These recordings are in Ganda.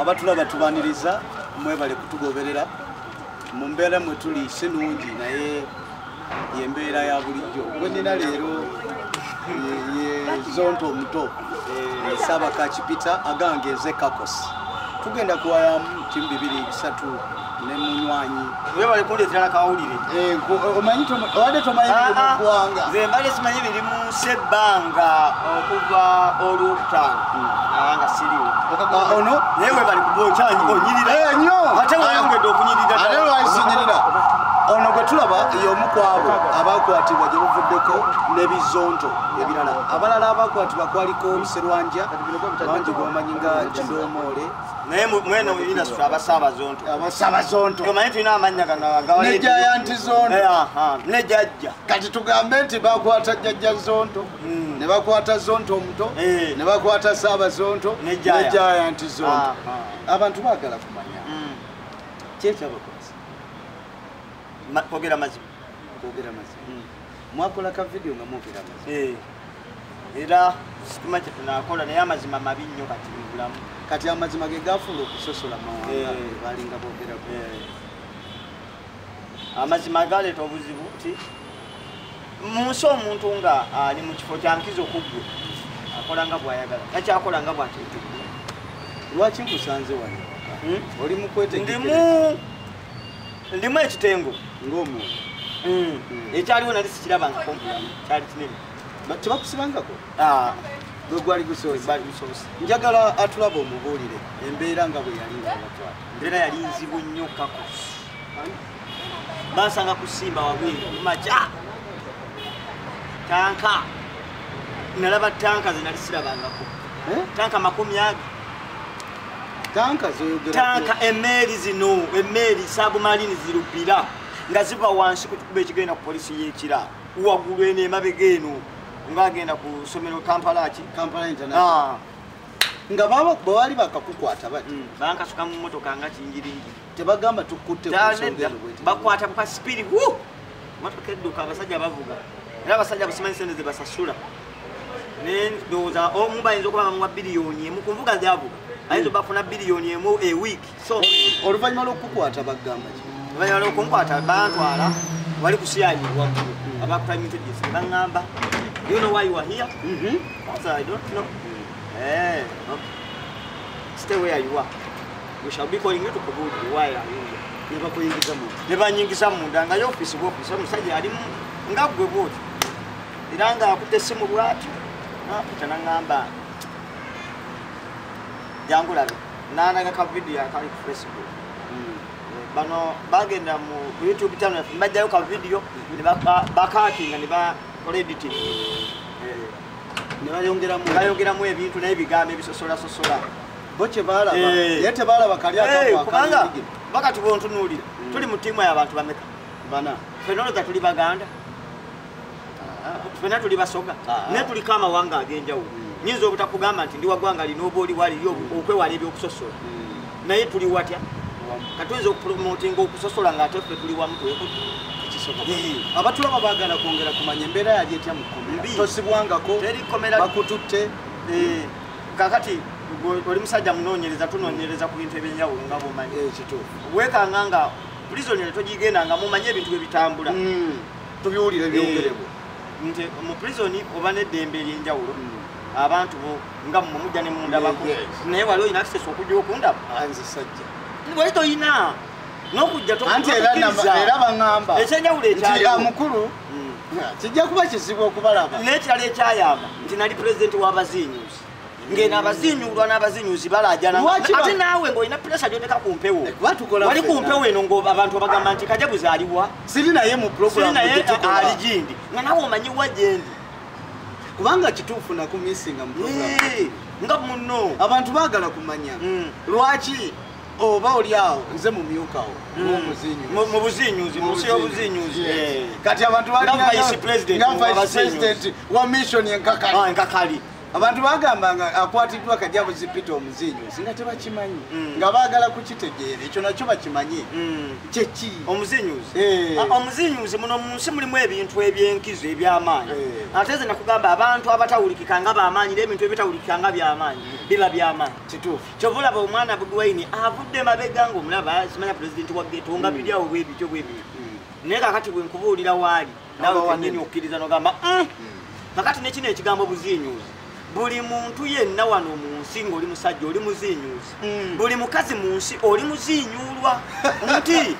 abatulaba tubaniriza mwebale kutugoberera mu mbeera mwe tuli si nungi naye yembeera ya bulijjo gwenina leero yezonto omuto eh, saabakakipita agange eze kakos tugenda kuwayamu kimu bibiri bisatu webale kundeetera nakawulire eh, omanyi obadde tomanyi ah, ah. mugwanga nze mbadde simanyi biri mu nsi ebbanga okuva olwokutaano hmm. abanga siriwo ah, ono naye webale kuba okyanyi hmm. onyirira eh, nyo ate wayongedde okunyirira ate lwayisinyirira ono gwe tulaba y'omu kwabo abakwatibwa gye buvuddeko n'ebizonto ebirala abalala abakwatibwa kwaliko serwanja bangi gwebamanyi nga kidoomoole naye mwene industry abasaba zonto abasaba zonto kama yetu ina amanya kana gawa ne jaya anti zonto eh aha ne jajja kati tugambe nti bakwata jajja zonto mm. ne bakwata zonto omuto eh. ne bakwata saba zonto ne jaya anti zonto abantu bagala kumanya mm. checha bakwasa kwogera mazima kwogera mazima mm. mwakola ka video nga mwogera amazima eh, era sitima kye tunakola naye amazima mabi nnyo kati mubulamu kati amazima ge gafuula okusosola mawanga eh. balinga boogera eh. amazima galeeta obuzibu ti mu nsi omuntu nga ali mu kifo kyankiza okuggwe akola nga bwayagala nakyakola nga bwateeteddwa lwaki nkusanze wano hmm? oli mukwetendimu ndimu ekitengo ng'omuntu mm. mm. ekyaliwo nali sikiraba nga kompulamu kyali kinene tebakusibangako ah. gwe gwali gusoosebali gusoose njagala atulaba omubuulire embeera nga bwe yali ngabatwala embeera yali nzibu nnyo kako bansanga kusimba wabweru maja tanka nalaba tanka zenali sirabangako eh? tanka makumi age tanka emeeri zino emeeri sabumalini zirubira nga ziva wansi ku kikuba ekigenda ku polisi y'ekira waggulu eno emabega eno ng'agenda ku ssomero kampala ki kampala international ah. nga baba bawali bakakukwata bati mm, bankasuka mu motoka nga kingiringi tebagamba tukutte bakwata buka sipiri Matoka edduka abasajja bavuga era abasajja busimanyi sente ze basasula naye ndowooza omu bayinza okuba bamuwa biliyoni emu ku nvuga zyavuga ayinza oba afuna biliyoni emu e wiiki so oluvannyuma lw'okukukwata bagamba ki oluvannyuma lw'okunkwata bantwala wali kusiyayi waggulu abakutamintedis baŋŋamba you know why you are here mm -hmm. i don't know mm -hmm. eh, okay. stay where you are We shall be calling you to Kubudi. Why are you here? Nebakuyingiza mu. Nebanyingiza mu ndanga yo office wo office omusajja ali nga gwe bwoti. Era nga akutte simu bwati. Na pita na ngamba. Jangu labe. Nana ga ka video akali ku Facebook. Mm. Bano bagenda mu YouTube channel mbajja yo ka video mm. ne baka bakati nga ne ba editing. Eh. Ne bayongera mu. Bayongera mu ebintu na ebigambo ebisosola sosola. sosola. bo kyebalaba eh. naye tebalaba kali eh, kubanga baka tubontunuulira hmm. tuli mu tiimu yabantu bameka bana fena olowooza tuli baganda ah. fena tuli basoga ah. naye tuliko amawanga ag'enjawulo hmm. nyinza obutakugamba nti ndi wagwanga lina oba oli wali hmm. okwewala ebyokusosola naye tuli watya katuyinza okupromotinga okusosola nga ate ffe tuli wamu twekuti abatulaba bagala kwongera kumanya embeera yali etya mu kkomera tosibwangako bakututte eh. kakati oli musajja munonyereza tunonyereza ku bintu ebyenjawulo nga bomanyi eh, wekanga nga prisonary togigenda nga mumanyi ebintu bwebitambula hmm. tubiwulire eh, byongerebo nti mu prison oba neddembe eryenjawulo hmm. abantu bo nga mwe mujja ne mundabako naye wali olina kisesa okujja okundaba anze sajja wali tolina nokujja era baŋamba ekyenjawulo ekyamukulu kijja kuba kizibu okubalaba naye kirala ekyayamba nti nali pulezidenti w'abaziinyuzi ngeno abazinyulwa n'abazinyuzi balajanate naawe ngaolina puresa gyoteka ku mpewo eh, wali ku mpewo eno ngabantu abagamba nti kaja buzaliwa siri naye mu naye ali gindi nga nawe omanyiwa gyendi kubanga kituufu nakumisinga mu nga muno abantu bagala kumanya hmm. lwaki oba oli awo nze mumyukawo mubuzinyuzi munsi yobuzinyuzi kati abantu baliabasidenti wa mission enkakali ah, abantu bagamba nga akwatiddwa kajabuzi peter omuzinyuzi nga tebakimanyi mm. nga bagala kukitegeera ekyo nakyo bakimanyi mm. kyeki omuzinyuzi eh. ah, omuzinyuzi muno munsi mulimu ebintu ebyenkizo ebyamaanyi eh. ate ze nakugamba abantu abatawulikika nga bamaanyi nebintu ebitawulikika nga byamaanyi biba byamaanyi kituufu kyova olaba omwana bugwaini avudde mabega nga omulaba simanya pulezidenti wa geto nga mm. biri awo bwebityo bwebityo mm. naye kakati bwenkubuulira waali nawe wanyini okukkiriza nogamba mm. kakati nekino ekigambo buziinyuuzi buli muntu yenna wano mu nsi ngaoli musajja oli muziinyuuzi hmm. buli mukazi mu nsi oli muziinyuulwa nti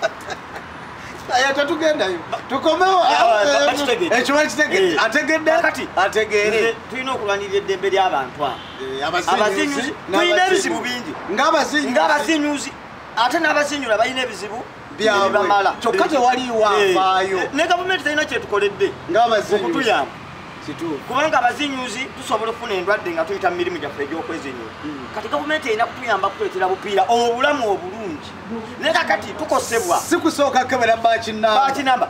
tetugendayo tukomewoategedde eh, eh, ategeere tulina okulwanirira eddembe ly'abantu abo Eh, abazinyuzi tulina ebizibu bingi ngaabazinyuzi ate n'abazinyula balina ebizibu byabamala kyokka tewaliwo eh, afaayo eh, ne gavumenti talina kyetukoledde okutuyamba kubanga abazinyuzi tusobola okufuna endwadde nga tuyita mu mirimu gyaffe egyokwezinyula hmm. kati gavumenti erina kutuyamba kutuletera bupiira obulamu obulungi naye kakati tukosebwa sikusooka kebera bakinamba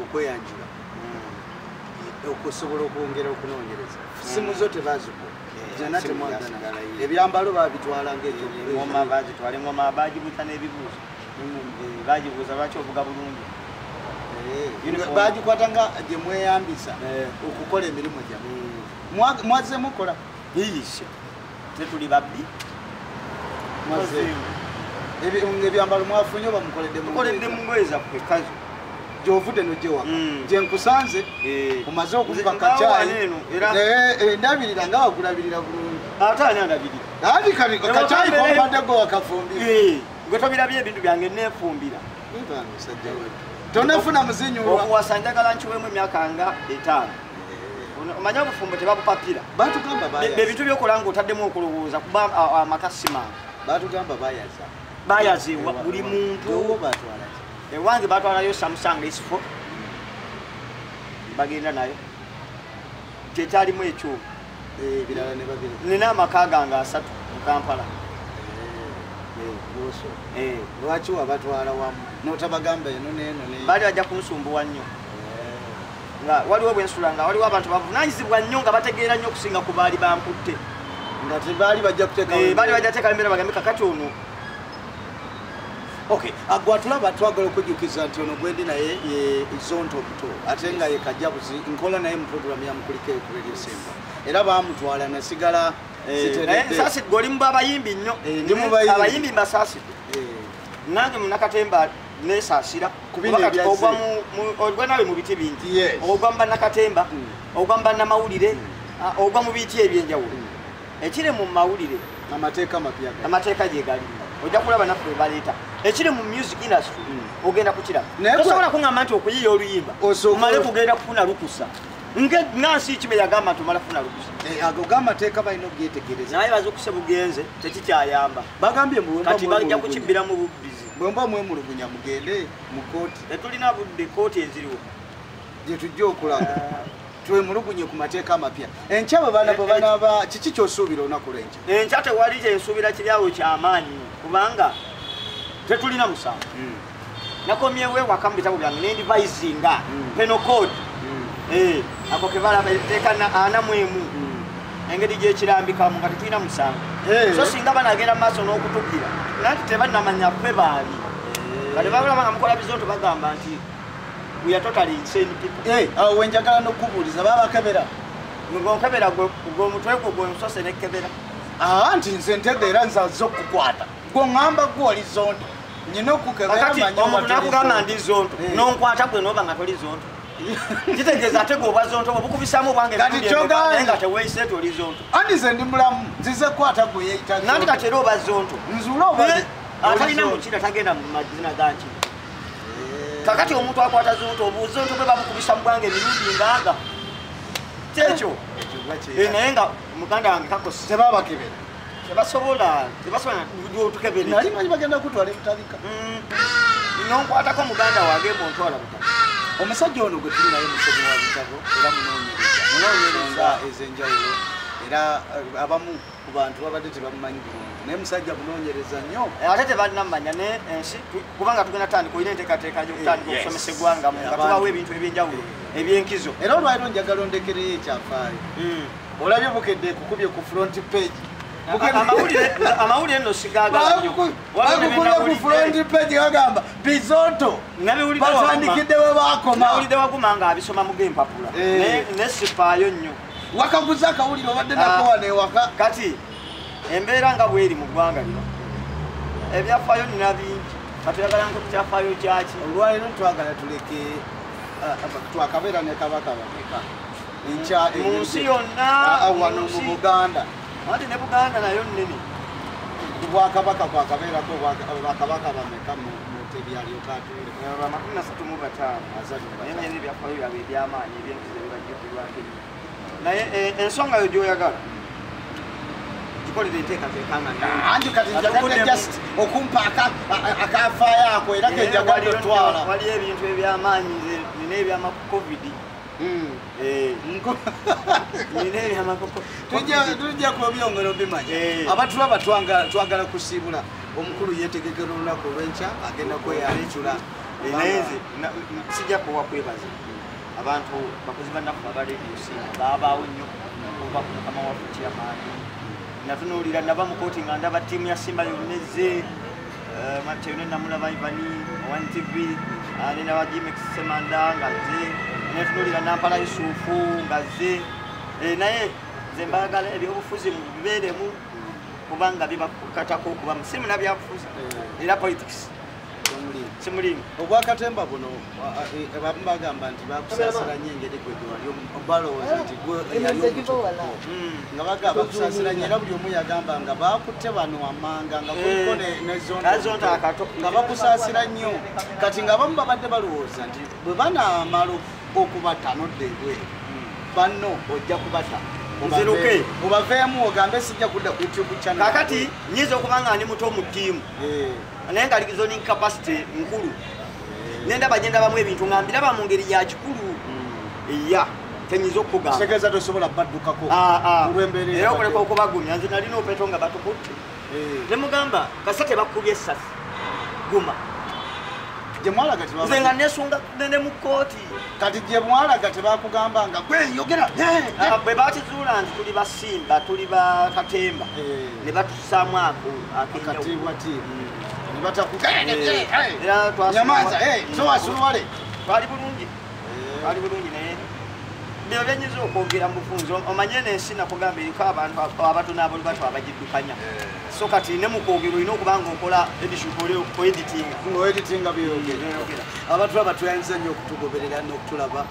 okweyanjula mm. okusobola okwongera okunoonyereza mm. simu zo tebaziku zona temwagana ebyambalo babitwala ngaeoma bagitwala engoma bagibuuza n'ebibuuzo mm. eh, bagibuuza lwaki ovuga bulungi eh, bagikwata nga gyemweyambisa eh. okukola emirimu gyamwe mwazemu kola tetuli babbi ebyambalo mwafunye oba mukoledde mungoye zaffe kazo gyovudde nojewa hmm. gyenkusanze eh. omaze okuziba kacaayi eh, endabirira nga wakulabirira bulungi ate ani andabirira andi kacaayi kombadde gwe wakafumbira eh. gwe tobirabye ebintu byange nefumbira tonafuna muzinyuwa okuwasa njagala nkiwemu emyaka nga etaano omanyi obufumbo tebabupapira bebintu byokola nga otaddemu okulowooza kuba amakasima batugamba bayaza bayaza buli muntu ewange batwalayo samusanga esifo bagenda nayo kyekyalimu ekyo eh, nina amaka gange asatu mukampala eh, eh. lwaki wabatwala wamu notabagamba eno neno bali bajja kunsumbuwa nnyo nga waliwo bwensula nga waliwo abantu bavunanyizibwa nnyo nga bategeera nnyo okusinga ku baali bankutte nga tebaali bajja kuteekabaali eh, bajja teekawo embeera bagambe kakati ono ok agwatulaba ah, twagala okujjukiza nti ono gwendi naye ye zonto omuto ate nga ye kajabuzi nkola naye mu programu yamukulika ekuredio semba era bamutwala nasigala sasi eh, gwe oli mu babayimbi nnyo eh, abayimbi mbasasidde nange munakatemba nesasira ogwa ogwa nawe mu biti bingi ogwa mba nakatemba mm. ogwa mba namawulire mm. ogwa mu biti ebyenjawulo mm. ekiri mu mawulire amateeka mapya amateeka gyegali ojja kulaba naffe webaleeta ekiri mu music industry ogenda kukiraba tosobola kuŋamba nti okuyiya oluyimba omale kugenda kufuna lukusa ngansi kibe yagamba nti omala funa lukusa eh, ago gamateeka balina okugetegereza naye bazukusa bugenze tekikyayamba bagambye kati bajja kukibbira mu bubbizi bwemba mwemulugunya mugende mu kooti tetulina budde kooti eziriwo gyetujja okulaga twemulugunye ku mateeka amapya enkya bwe bana bwe banaba kiki kyosuubira olunaku lwenkya enkya tewali kyensuubira kiryawo kyamaanyi kubanga tetulina musango hmm. nakomyewo ewaka mu bitabo byange nendivisinga hmm. penocode hmm. eh, ako kebalaba eteeka ana mwemu engeri gyekirambikamu nga tetulina musango eh. so singa banagenda mumaaso n'okutugira nanti tebanamanya kwe baali kati eh. bakulaba nga mukola bizonto bagamba nti eh, awo wenjagala nokubuuliza babakebera ngokebera gwomutwe gwo gwensose nekebera ah, nti nze ntedde era nzaze okukwata gwoŋamba gwoli zonto nyina okukebera manya omuntu nakugamba ndi zonto nonkwata gwe noba nga toli zonto kitegeeza ate gwe obwazonto obukubisaamu obwangenaye nga teweise ti oli zonto andi ze ndi mulamu nzize kukwata gwe yeita nanti kati era oba zonto nzula oba eh, atalina mukira tagenda mu mazina ganki eh. kakati omuntu akwata zonto obuzonto bwe babukubisa mu bwange emirundi ngaaga kyekyo eh, naye nga muganda wange kakosebabakebera tebasobola tebasobola tukebere nali manyi bagenda kutwala ebitabika mm. nonkwatako muganda wange muntwala buta omusajja ono gwe tuli naye musomi wa bitabo era munonyereza munonyereza ezenjawulo era eh, abamu ku bantu babadde tebamumanyi bulungi naye musajja munonyereza nnyo eh, ate tebanamanya ne ensi eh, kubanga tugenda tandika olina enteekateeka yokutandika okusomesa eggwangamu nga tubawo ebintu ebyenjawulo ebyenkizo era olwaliro njagala ondekereyo ekyafaayo mm. Olabye bukedde kukubye ku front page. Amawulire amawulire no sigaga. Wakukubye ku front page agamba Bizonto. Nabiwulire batandikidde we bakoma. Nabiwulire wakuma nga abisoma mu game papula. Eh. Ne ne sipayo nnyo. Wakaguza akawulire obadde nako ah. wane waka. Kati embeera nga bweri mu ggwanga lino. Ebyafayo nina bingi. Kati yagala nko kyafayo kyaki. Olwaliro twagala tuleke ah, twakabeera ne kabaka bameka. mu nsi yonna wano mu buganda anti ne buganda nayo nnene kubwakabaka bwakabeerako bakabaka bameka tebyalyokateamakumi nasatu mu bataano naye naye nebyafaayo byabwe ebyamaanyi ebyentu zebibajjukirwako naye eh, ensonga yo gyoyagala okumpa akafaayo ako era kejagatwala waliyo ebintu ebyamaanyi nina ebyamaku covid Mm. Eh. tujja kubyongera obimanya eh. abatulaba twagala kusiibula omukulu yetegekera olunaku olwenkya agenda kweyalecula eh, naye nze sijja kuwa kwebaza abantu bakozi banaku abarediosi babaawo nnyo okuva ku mukama waffe kyamaani natunuulira nava mu kooti nga ndaba ttiimu ya simba yonna ezze Eh, Matthew ne namulaba Ivani One TV ah, ne naba Jimex Semanda ngazze ne tunulira Nampala Yusufu ngazze eh, naye nze mbaagala ebyobufuzi mubibeeremu kubanga bibakatako okubamu si munabyabufuzi era politics simulimu obwakatemba buno abamu bagamba nti bakusasira nyo engeri gwe gyewali balowooza nti hmm, nga bagamba bakusasira nyo era buli omu yagamba nga bakutte bano wammanga nga kuliko hmm. nezonakato nga bakusasira nnyo kati nga abamu babadde balowooza nti bwe banaamala okubata nodda ebweru hmm. banno ojja kubata nziruke obaveemu ogambe sijja kudda ku youtube channel kakati nyinza okuba nga ndi muto mu ttiimu eh. naye nga zoning capacity nkulu nendaba gye ndabamu ebintu nga mbiraba mu ngeri ya kikulu mm. ya tenyinza okukugambategeeza tosobola baddukako ah, ah. olwembeera era okuleka okubagumya nze nalina opeto nga batukutte eh. ne mugamba kasa tebakubye essasi guma nze nga nesunga ne mu kkooti kati gye mwalaga tebakugamba nga gweyogera ah, bwe bakizuula nti tuli basimba tuli bakatemba eh. ne batusaamu ako akatiibwatiibwa nyamaza towasuwale twali bulungi twali bulungi naye bino byenyiza okwogera mubufunzi omanye nensi nakugamba eriko abantu abatonabuli batu abagiddukanya so kati ne mukwogera olina okuba nga okola editinga abantu abatuyinza nnyo okutugoberera nokutulaba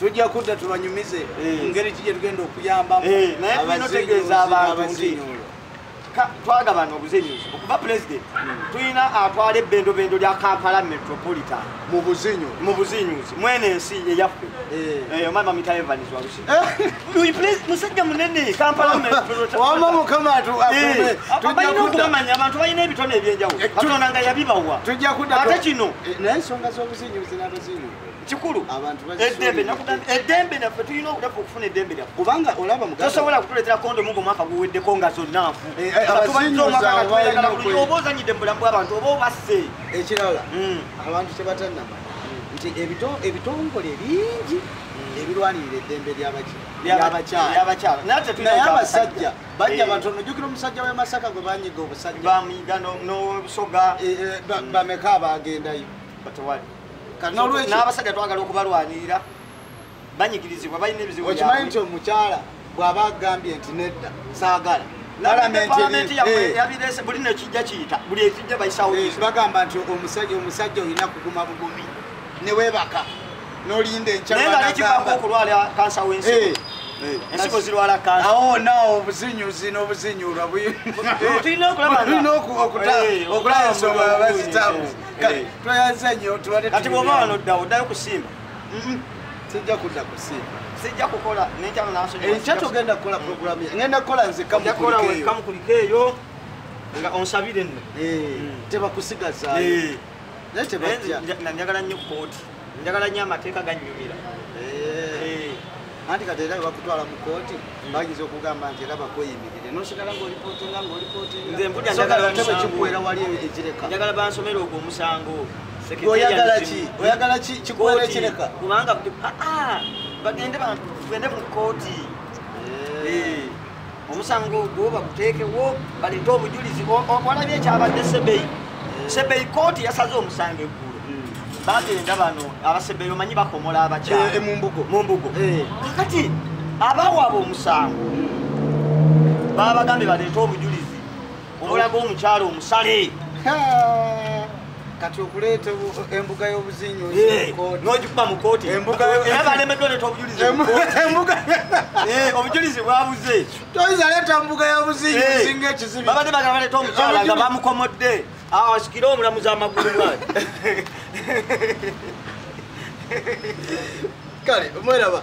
tujja kudda tubanyumize eh. ngeri ki gyetugenda okuyambamu eh, naye tulina otegeeza abantu nti twagabana obuzinyuzi okuva pulezidenti hmm. tulina atwala ebbendobendo lya kampala metropolitan mu buzinyuzi mwene ensi eyaffe eh. omama mita evans walusi musajja munene kampala metropolitanwama mukama balina okubamanya abantu balina ebitone ebyenjawulo katonda nga yabibawa ate kino naye ensonga z'obuzinyuzi n'abazinyuzi kikulu eddembe nakugamba eddembe naffe tulina obudaffe okufuna eddembe lyaffe kubanga olaba muganda tosobola kutuleetera kondomu nga omwaka guweddeko nga zonna nfu eh, eh, nga tubayiza omwaka nga tweyagala bulungi oba ozanyidde mu bulamu bw'abantu oba obasse ekirala hmm. abantu tebatannama nti ebitongole bingi hmm. ebirwanirira eddembe lyabaki lyabakyala naye abasajja bajja eh. batono jukira omusajja wemasaka gwe banyiga obusajja bamuyiga n'obusoga bameka abaagendayo batewali n'abasajja twagala okubalwanirira banyigirizibwa balina ebizibu okimanyi nti omukyala bw'aba agambye nti nedda saagala eh. buli nekijja kiyita buli ekijja bayisawo eh, bagamba nti omusajja omusajja olina kuguma bugumi ne weebaka n'olinda enkyanekivaako okulwala kansa w'ensigo eh, ensigo zirwala kansa awo naawo obuzinyuzi n'obuzinyulwa bulina okulaba ensonga bazitamu kale tweyanza nnyo tubadde kati bwoba wano oddawo oddayo kusimba sijja kudda kusimba sijja kukola nekyalo nasonyiwa enkya togenda kukola programu ngenda kukola nzekamukulika eyo nga onsabire nno eh, tebakusigazayo eh. naye tebatya njagala nnyo kooti njagala nyo amateeka gannyumira eh. eh. anti kati era webakutwala mu kooti bayinza okugamba nti era bakweyimirire nosigala ngaolipootinga ngaolipootingaekikuwera wali ekireka njagala bansomera ogwo omusango oyagala ki oyagala ki kikuwera ekireka kubanga ah, ah, bagende bagende mu kooti eh. omusango ogwo baguteekewo baleete obujulizi walabye ekyabadde sebeyi sebeyi kooti yasaze omusango eggulo hmm. bagenda bano abasebeyi omanyi bakomola abakyamumbugo eh, eh, eh. kakati abawaaba omusango hmm. babagambye baleete obujulizi obulaga omukyalo omusale kati okuleeta embuga y'obuzinyo n'ogikuba mu kooti era balemeddwa leeta obujulizi eh, obujulizi bwabuze toyinza leeta mbuga y'obuzinyo eh, osinga ekizibi babadde bagala baleeta omukyala nga bamukomodde awo asikire omulamuzi amagulu mwayi kale omweraba